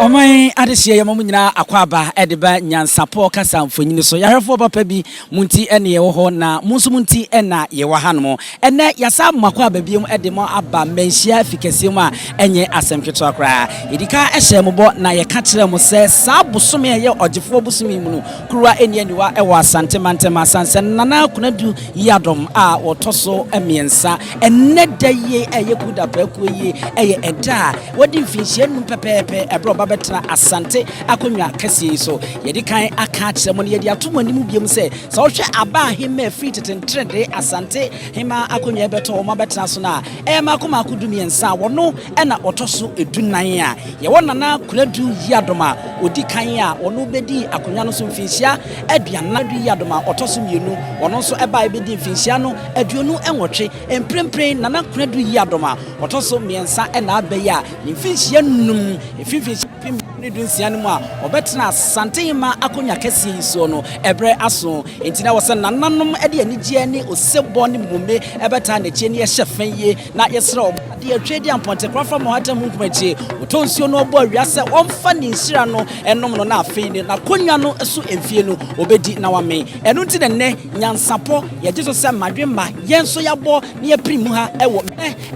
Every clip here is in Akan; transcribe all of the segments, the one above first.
ɔman adehyeɛ yɛ ma mu nyinaa akwaaba ɛde ba nyansapɔ kasa mfonyini so yɛahwɛfoɔ papa bi mu nti ɛne yɛwɔ hɔ na mu nso mu nti ɛna yɛwɔ hanom Ɛnnɛ, yɛasan ama mo akwaaba bio de mo aba mmanhyia afi kɛseɛ mu a ɛnyɛ asɛm ketewa koraa. Yɛdi kan hyɛɛ mo bɔ na yɛka kyerɛɛ mo sɛ saa bosome a ɛyɛ Ɔgyefoɔ bosome yi mu no, kuruwa nni aniwa wɔ Asante mantam asiane sɛ Nana Konadu Yiadom a ɔtɔ so mmiɛnsa. Ɛnnɛ da yi a ɛyɛ Kuda prɛko yi yɛ ɛda a wadi mfinhyia nnum pɛpɛɛpɛ berɛ a ɔba bɛtena Asante akonnwa kɛseɛ yi so. Yɛadi kan aka akyerɛ mo na yɛde ato mo anim bio sɛ, Sɛ wohwɛ aba a hemmaa firi tete nteredee Asante hemmaa akonnwa rebɛtɔ wɔn abɛtena so no a, ɛyɛ mmaako mmaako dumiɛnsa a wɔno na ɔtɔ so dunan a. Yɛwɔ Nana Konadu Yiadom a ɔdi kan a ɔno bɛdii akonnwa no so mfinhyia aduanan, Konadu Yiadom a ɔtɔ so mmienu, ɔno nso baeɛ bɛdii mfinhyia no aduonu nwɔtwe. Mprempren Nana Konadu Yiadom a ɔtɔ so mmiɛnsa na aba yi a ne mfinhyia nnum, ɛfiri mfinhyia. ɔpepem du ne dunsia no mu a wɔbɛtena Santehema akonnwa kɛseɛ yi soɔ no, ɛberɛ aso. Enti na ɛwɔ sɛ nananom de anigyeɛ ne osebɔ ne mmome bɛtaa n'akyi ani hyɛ fɛ yie. Na yɛsrɛ wɔn adeɛ atwa adi ampɔntekora fa Mohatam ho nkumakyi. Wɔtɔ nsuo no bɔ awia sɛ wɔmfa ne nhyira no nnom no na afei ne n'akonnwa no so mfie no wɔbɛdi na wɔamee. Ɛno nti na ɛnnɛ nyansapɔ yɛgye so sɛ mmadwemma yɛn nso yɛabɔ na yɛapirim ha wɔ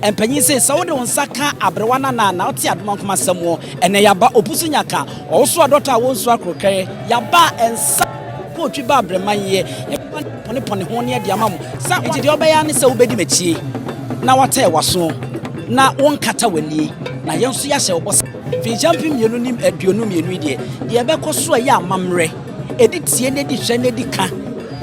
Mpanyin se, sɛ wode wo nsa ka aberewa nana na ɔte adomankoma asɛm wɔ, ɛnɛ yaba, opu so nya ka, ɔwoso adɔtɔ a wonsu akorokɛɛ, yaba, nsa kɔ otwi ba abereman yɛ, yɛbɛba na yɛapɔnepɔne ho nea de ama mo, sa, enti deɛ wobɛyɛ ara ne sɛ wobɛdi m'akyie, na woatɛɛ w'aso, na wonkata w'anie, na yɛn nso yɛahyɛ wo bɔ sɛ, mfirinhyia mpem mmienu ne aduonu mmienu yi deɛ, deɛ ɛbɛkɔ so a ɛyɛ amammerɛ. Ɛdi tie na ɛdi hwɛ na ɛdi ka.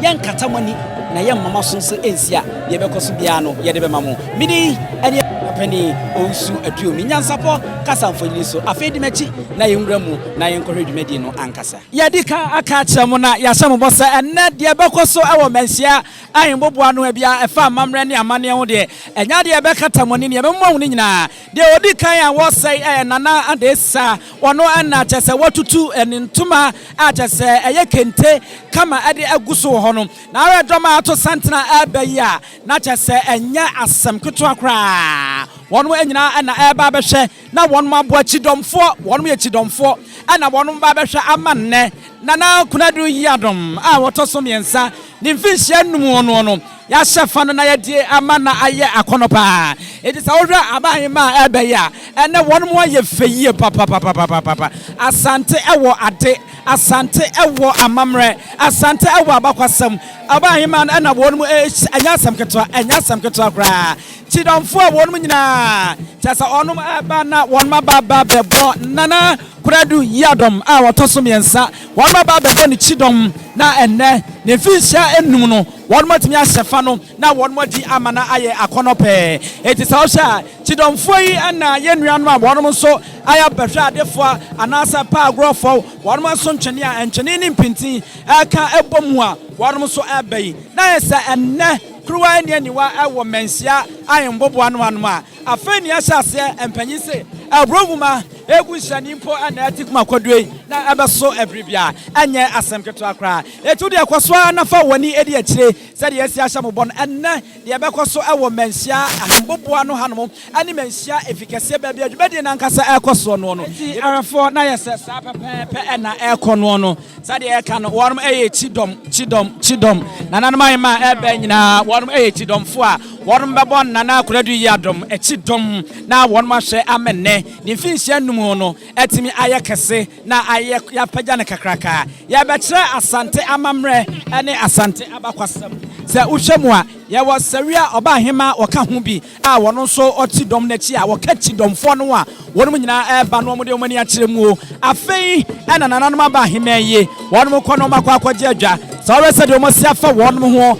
Yɛnkata mo ani na yɛmma mo aso nso nsi a deɛ ɛbɛkɔ so biara no yɛde bɛma mo. Me din ɛne Papanin Owusu Aduomi. Nyansapɔ kasa mfonini so. Afei di m'akyi na yɛnwura mu na yɛnkɔhwɛ dwumadie no ankasa. Yɛadi ka aka akyerɛ mo na yɛahyɛ mo bɔ sɛ ɛnnɛ deɛ ɛbɛkɔ so wɔ Manhyia Ahenboboa no a biara ɛfa amammerɛ ne amanneɛ ho deɛ ɛnyɛ adeɛ a ɛbɛkata mo ani. Nea ɛbɛmoa mo no nyinaa Deɛ ɔdi kan a wɔsɛe yɛ Nana Adesa, ɔno na kyerɛ sɛ watutu ne ntoma a kyerɛ sɛ ɛyɛ kente kama de agu so wɔ hɔ no. N'awerɛdɔm a ato santene reba yi a na kyerɛ sɛ ɛnyɛ asɛm ketewa koraa, wɔnom nyinaa na ɛreba abɛhwɛ na wɔnom aboa kyidɔmfoɔ, wɔnom yɛ kyidɔmfoɔ na wɔnom ba abɛhwɛ ama nnɛ. Nana Konadu Yiadom a ɔtɔ so mmiɛnsa, ne mfinhyia nnum no no. Yɛahyɛ fa no na yɛde ama na ayɛ akɔnnɔ paa. Enti sɛ wohwɛ aban mma a ɛreba yi a, ɛnnɛ wɔn ho ayɛ fɛ yie papapapapapa. Asante wɔ ade, Asante wɔ amammerɛ, Asante wɔ abakwasɛm. Ɔbaa hemaa no na wɔn rehyia, ɛnyɛ asɛm ketewa, ɛnyɛ asɛm ketewa koraa. Kyidomfo a wɔn nyinaa, kyerɛ sɛ wɔn reba na wɔn aba aba abɛbɔ Nana Kwadu Yiadom a ɔtɔ so mmiɛnsa, wɔn aba abɛbɔ ne kyidɔm na ɛnnɛ ne mfinhyia nnum no, Wɔatumi ahyɛ fa no na wɔadi ama no ayɛ akɔnnɔ pɛɛ. Enti sɛ wohwɛ a, Kyidɔmfoɔ yi na yɛn nuanom a wɔnom nso ayɛ bɛhwɛadefoɔ anaasɛ paa agorɔfoɔ, wɔnom nso ntwene a ntwene ne mpintin ka bɔ mu a wɔnom nso reba yi. Na ayɛ sɛ ɛnnɛ kuruwa nni aniwa wɔ mmanhyia ahenboboa no anom a afei nea ɛhyɛ aseɛ mpanyin se aburo nwuma egu nhyɛne mpo na ɛte kuma kwadue na ɛbɛso bere biara. Ɛnyɛ asɛm ketewa koraa. Enti wo deɛ, kɔ so ara na fa w'ani di akyire sɛdeɛ yɛasi ahyɛ mo bɔ no. Ɛnnɛ, deɛ ɛbɛkɔ so wɔ Manhyia ha, Mboboa no hanom, ne Manhyia Efi Kɛseɛ baabi a dwumadie no ankasa rekɔ soɔ noɔ no, Enti awɛfoɔ, na ayɛ sɛ saa pɛpɛɛpɛ na ɛrekɔ noɔ no. Sɛdeɛ yɛka no, wɔnom yɛ kyidɔm, kyidɔm, kyidɔm. Nananom ahemmaa a ɛreba nyinaa, wɔnom yɛ kyidɔmfoɔ a wɔnom bɛbɔ Nana Akua Ado Yiadom kyidɔm na wɔnom ahwɛ ama nnɛ ne mfinhyia nnum no atumi ayɛ kɛse, Na ayɛ yɛapagya no kakraka. Yɛrebɛkyerɛ Asante amammerɛ ne Asante abakwasɛm. Sɛ wohwɛ mu a, yɛwɔ Sawia Ɔbaahemaa wɔka ho bi a wɔno nso ɔte dɔm no akyi a wɔka Kyidɔmfoɔ no a wɔnom nyinaa ɛreba na wɔde wɔn ani akyerɛ mu o. Afei na nananom aba ahemman yi wɔnom kɔ na wɔakɔ akɔgye adwa. Sɛ wohwɛ sɛdeɛ wɔasi afa wɔnom ho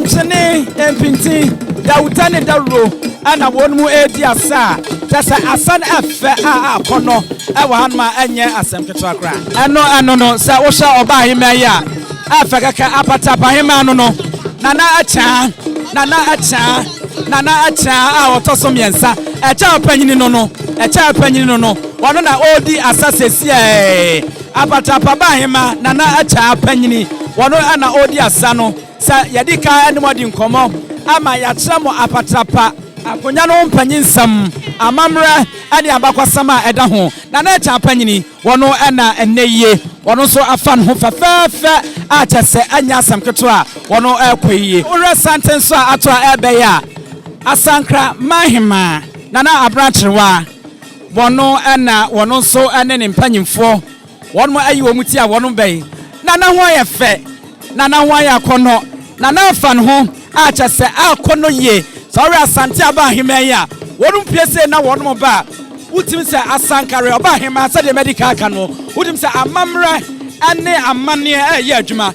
Nkyene, mpintin, dawuta ne dawuro na wɔn mu redi asa a kyerɛ sɛ asa no yɛ fɛ a akɔnnɔ wɔ hanom a ɛnyɛ asɛm ketewa koraa. Ɛno ɛno no sɛ wohwɛ ɔbaa ahemmaa yi a ɛyɛ fɛ kɛkɛ apatapa ahemmaa no no nana akyea nana akyea nana akyea a ɔtɔ so mmiɛnsa ɛkyɛ ɔpanyini no no ɛkyɛ ɔpanyini no no wɔn na ɔredi asa sɛsiɛ. Apatapaba Ahema Nana Akyɛa Panyini, wɔno na ɔredi asa no. Sɛ yɛde ka ne mo adi nkɔmmɔ ama yɛakyerɛ mo Apatrapa Akonya no ho mpanyinsɛm, amammerɛ ne abakɔsɛm a ɛda ho. Nana Akyɛa Panyini, wɔno na ɛnnɛ yie, wɔno nso afa ne ho fɛfɛɛfɛ a kyerɛ sɛ ɛnyɛ asɛm ketewa a wɔno ɛrekɔ yie. Wohwɛ santen so a ato a ɛrebɛyɛ a, Asankra Manhemaa, Nana Abena Kyerewaa, Wɔn na wɔn nso ne ne mpanimfoɔ, wɔnom ayi wɔn ti a wɔnom bɛn, na na ho ayɛ fɛ, na na ho ayɛ akɔnnɔ, na na afa ne ho, a kyɛ sɛ a akɔnnɔ yie. Sɛ ɔwɛ Asante aba aheman yi a, wɔnom pue sei na wɔnom ba a, wotim sɛ Asankare ɔba aheman, sɛdeɛ madi kan aka no, wotim sɛ amammerɛ ne amanneɛ ɛreyɛ adwuma.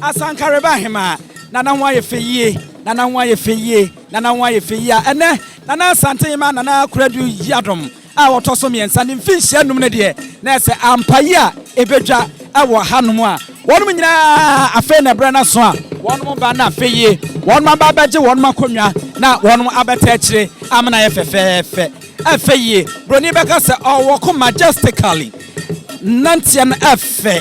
Asanka reba ahemaa Nana ho ayɛ fɛ yie Nana ho ayɛ fɛ yie Nana ho ayɛ fɛ yie a ɛnɛ Nana Asante Hemaa Nana Akoradu Yiadom a ɔtɔ so mmiɛnsa ne mfinhyia nnum no deɛ na ɛyɛ sɛ ampa yi a ɛbɛdwa wɔ ha nom a wɔnom nyinaa afei na ɛberɛ no aso a wɔnom ba na afei yie wɔnom aba abɛgye wɔnom akonnwa na wɔnom abɛtɛ akyire amena yɛ fɛfɛɛfɛ ɛfɛ yie Buroni bɛka sɛ ɔwɔ ko majestically nanteɛ no ɛfɛ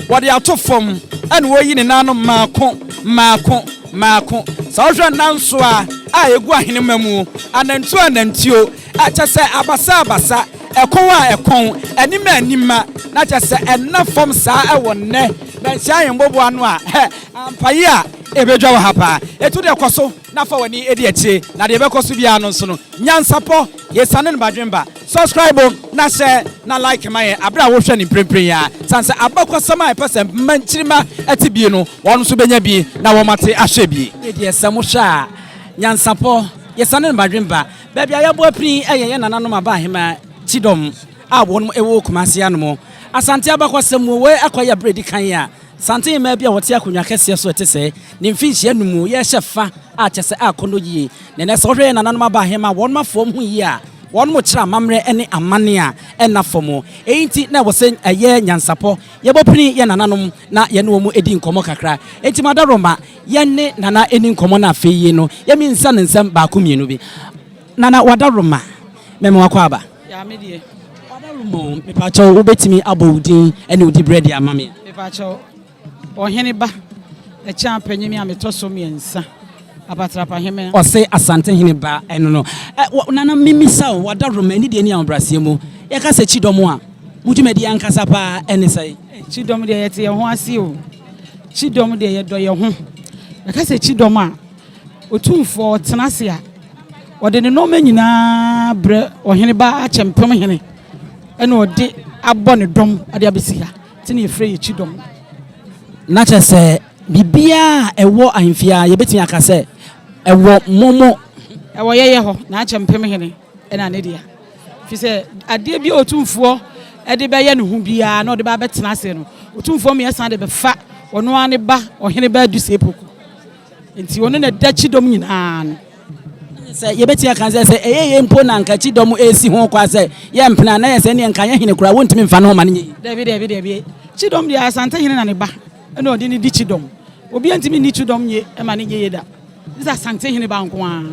Wɔde ato fam na wɔyi ne nan no mmaako mmaako mmaako. Sɛ wohwɛ nansoa a egu ahenemma mu, anantuo anantuo, kyerɛ sɛ abasa abasa, ɛkɔn a ɛkɔn, anim a animma, na kyerɛ sɛ ɛnna fam saa wɔ nnɛ Mansin Ahemboboa no a, hɛ! Ampaye a ebedwa wɔ ha paa. Etu de kɔ so. na fa w'ani di akyire na deɛ ɛbɛkɔ so biara no nso no nyansapɔ yɛsane no badwenba subscribe na hyɛ na like ma yɛn aberɛ a wohwɛ no mprempren yi ara sane sɛ abakɔsɛm a ɛpɛ sɛ mma nkyirimma te bie no wɔn nso bɛnya bi na wɔn ate ahwɛ bie. Me deɛ sɛ mo hwɛ a nyansapɔ yɛsane no badwenba baabi a yɛabɔ apini yɛ yɛn nananom aba ahema kyidɔm a wɔn wɔ Kumasi anom Asante abakɔsɛm mu wei akɔyɛ aberɛ a ɛdi kan a Santen mmaa bi a wɔte akonnwa kɛseɛ so a ɛte sɛɛ ne mfinhyia no mu yɛ hyɛ fa a kyɛ sɛ akɔnnɔ yie. Na ɛnnɛ sɛ wohwɛ yɛn nananom aba ahemmaa a wɔn afa wɔn ho yie a, wɔn kyerɛ amammerɛ ne amanne a ɛnna fam. Ɛyi nti na ɛwɔ sɛ ɛyɛ nyansapɔ yɛbɔ pini yɛn nananom na yɛne wɔn di nkɔmmɔ kakra. Enti Mada Roma, yɛne Nana nni nkɔmmɔ na afei yi no yɛmminsa no nsɛm baako mmienu bi. Nana wadaroma mɛma wakɔ aba. Yaa me deɛ. Wadaroma o mepakyɛw wobɛtumi abɔ wo din ɛne wo dibrɛ de ama me a. Mepakyɛw ɔhene ba ɛkyɛn apanyin me a metɔ so mmiɛnsa apatrapa heme. Ɔse asante hene ba ɛno no ɛ wɔ nana memisa o wadaroma ɛne deɛ ɛni ahobraseɛ mu yɛka sɛ kyidɔm a mo dwumadie ankasa paa ɛne sɛn. Kyidɔm deɛ yɛte yɛn ho ase o kyidɔm deɛ yɛdɔ yɛn ho yɛka sɛ kyidɔm a. Otumfoɔ tena ase a, ɔde ne nnoɔma nyinaa brɛ ɔhene baa akyɛmpem hene ɛna ɔde abɔ ne dɔm ade abɛsi ha te ne yɛfrɛ yɛ kyidɔm. Na kyerɛ sɛ biribiara a ɛwɔ ahemfie ara yɛbɛtumi aka sɛ ɛwɔ mo mo. Ɛwɔ yɛyɛ hɔ na akyɛmpem hene ɛna ne dea firi sɛ adeɛ bi a otumfoɔ ɛde bɛyɛ ne ho biara na ɔde baa bɛtena ase no otumfoɔ mmiɛsa de bɛfa ɔno ara ne ba ɔhene baa dusepoku. Nti ɔno na ɛda kyidɔm nyinaa no. Sɛ yɛbɛtumi aka sɛ sɛ ɛyɛ yei mpo na anka kyidɔm ɛresi ho kwa sɛ yɛmpene a, na ɛyɛ sɛ ɛnneɛ nka yɛn hene koraa wɔntumi mfa ne ho ma no nyɛ yie. Dabi, dabi, dabi. Kyidɔm deɛ Asantehene na ne ba na ɔde no di kyidɔm. Obiara ntumi nni kyidɔm nye ma no nyɛ yie da. Gye sɛ Asantehene ba nko ara.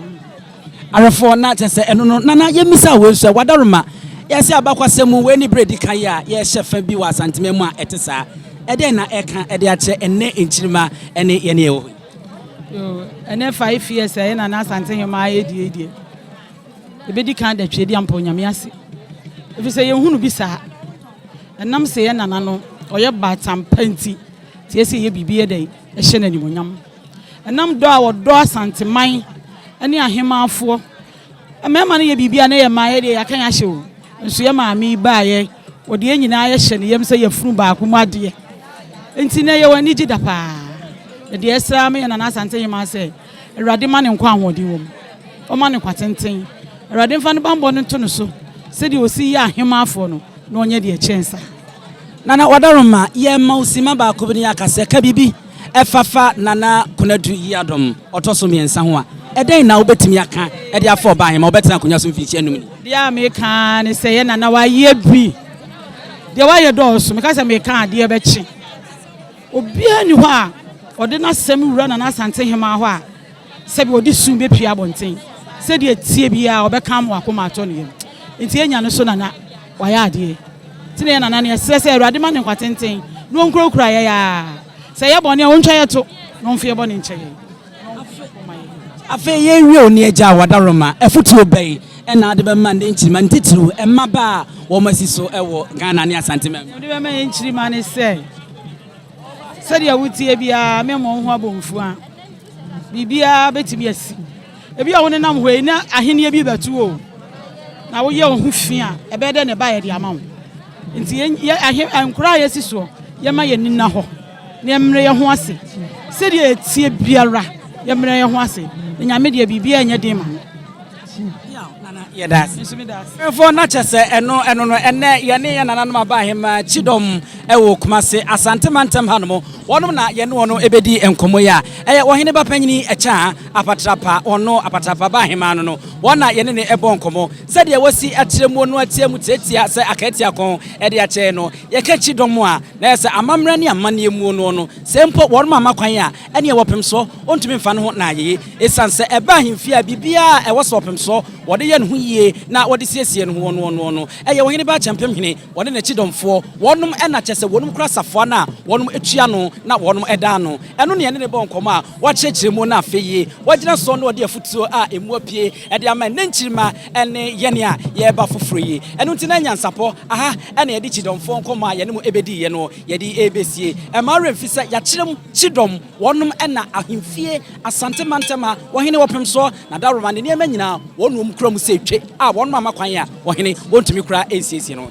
Awerɛfoɔ, na kyerɛ sɛ ɛno no na na yɛmmisa wei nso ɛ. Wadaroma, yɛse abakɔsɛm mu, wei ne berɛ a ɛdi kan yi a yɛrehyɛ fa bi wɔ Asanteman mu a ɛte saa. Ɛdɛn na ɛreka de akyerɛ ɛnnɛ nkyirimma ne yɛn a yɛwɔ hɔ yi? Yoo, ɛnnɛ five years a ɛna na Asante Nhomaa ɛredi yi deɛ, ɛbɛdi kan da Tweaduam mpo Nyame ase. Ɛfiri sɛ yɛnhunu bi saa. Ɛnam sɛ yɛn nana no ɔyɛ baatan pa nti, nti ɛsɛ yɛyɛ biribi yɛ dɛn? Hyɛ no animuonyam ɛnam dɔ a wɔdɔ Asanteman ne ahemmanfoɔ. Mmarima no yɛ biribi a na yɛ mmaa yɛ deɛ yɛaka yɛ ahyɛ o. Nso yɛ maame yi baayɛ, wɔde yɛn nyinaa yɛhyɛ ne yam sɛ yɛfunu baako mu adeɛ. Nti na yɛwɔ anigye da paa. Na deɛ ɛsra me yɛ Nana Asante Hemaa sɛ Awurade ma ne nkwa ahoɔden wɔ mu. Ɔma no nkwa tenten. Awurade mfa ne bammɔ no nto no so sɛdeɛ ɔsi yɛ ahemmanfoɔ no, na ɔnyɛ deɛ ɛkyɛn saa. Nana Wadaroma, yɛma wo simma baako bi na yɛaka sɛ ka biribi fa fa Nana Konadu Yiadom ɔtɔ so mmiɛnsa ho a, ɛdɛn na wobɛtumi aka de afa ɔbaa he ma ɔbɛtena akonnwa so mfirihyia nnum ni? Deɛ a meka ara ne sɛ yɛ Nana wayɛ bi. Deɛ wayɛ dɔɔso. Meka sɛ meka adeɛ bɛkye. Obiara nni hɔ a ɔde n'asɛm wura Nana Asante Hemaa hɔ a sɛbi ɔde sum bɛpue abɔnten. Sɛdeɛ ɛteɛ biara ɔbɛka ama wakoma atɔ ne yam. Nti yɛnya no so Nana wayɛ adeɛ. Nti na yɛ Nana no yɛsrɛ sɛ Awurade ma no nkwatenten na ɔnkurakura yɛn ara. Sɛ yɛyɛ bɔne a ɔntwa yɛn to na ɔmfa yɛn bɔne nkyɛ yɛn. Afei yɛrewie o ne agya a wadaroma, afotuo bɛn na wode bɛma ne nkyirimma ne titiriw mmabaa a wɔn asi so wɔ Ghana ne Asante man mu? Mede bɛma yɛn nkyirimma ne sɛ, sɛdeɛ woteɛ biara mɛmmɔ wo ho abomfua. Biribiara bɛtumi asi. Ebi a wonenam hɔ yi na ahenneɛ bi bɛto o. Na woyɛ wo ho fi a, ɛbɛyɛ dɛ na ɛba yɛde ama wo. Nti yɛ ahe nkora a yɛsi soɔ, yɛma yɛn ani nna hɔ. Yɛmmrɛ yɛn ho ase, sɛdeɛ ɛteɛ biara, yɛmmrɛ yɛn ho ase, na Nyame deɛ biribiara nyɛ den ma no. Yaw nana yɛda ase. Nso meda ase. Ɛfɔ na kyɛ sɛ ɛno ɛno no ɛnnɛ yɛne yɛn nananom aba ahemaa kyidɔm ɛwɔ Kumase Asante mantam ha nom wɔnom na yɛne wɔn ɛbɛdi nkɔmmɔ yi a ɛyɛ ɔhene ba panyini Ɛkyaa Apatrapa wɔn no Apatrapa ba ahemaa no no wɔn na yɛne ne ɛbɔ nkɔmmɔ sɛdeɛ wɔsi akyerɛ muo no atia mu tiatia sɛ akaatiakɔn ɛde akyɛɛ no yɛka kyidɔm a Na sɛ amammerɛ ne amanneɛ muo noɔ no, sɛ mpo wɔrema ama kwan a, ɛneɛ wɔpem soɔ, ɔntumi mfa ne ho na ayeye. Esiane sɛ ɛba ahemfie a biribiara a ɛwɔ so ɔpem soɔ, wɔde yɛ ne ho yie na wɔde siesie ne hoɔ noɔ noɔ no, ɛyɛ ɔhene baa kyɛmpem hene, ɔne ne kyidɔmfoɔ, wɔnom na kyerɛ sɛ wɔnom kura safoa no a wɔnom tua no na wɔnom da ano. Ɛno ne ɛne ne bɔ nkɔmmɔ a wɔakyerɛkyerɛ muo no afei yi, wɔagyina soɔ na wɔde afutuo a ɛmu apue de ama nnɛ nkyirimma ne yɛn a yɛreba foforo yi. Ɛno nti na nyansapɔ aha na yɛde kyidɔmfoɔ nkɔmmɔ a yɛne mo bɛdiiɛ no yɛde rebɛsie. Ɛmma wo werɛ mfi sɛ yɛakyerem kyidɔm, wɔnom na ahemfie Asante mantam a ɔhene wɔ pem soɔ, na Daworoman ne nneɛma nyinaa wɔnom kura mu sɛ twe a wɔnom amma kwan a ɔhene ɔntumi koraa nsiesie no.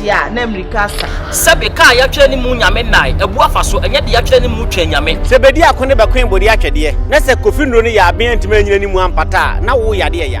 Te a, na mmirika asa. Sɛbe ka a yɛatwerɛ ne mu Nyame nnae abu afa so, ɛnyɛ de yɛatwerɛ ne mu Twɛn Nyame. Sɛ bedi ako ne bɛkoe bodi atwɛdeɛ, na sɛ Kofi nnuro no yɛ aben antumi annyina ne mu ampata a, na wo yadeɛ ya.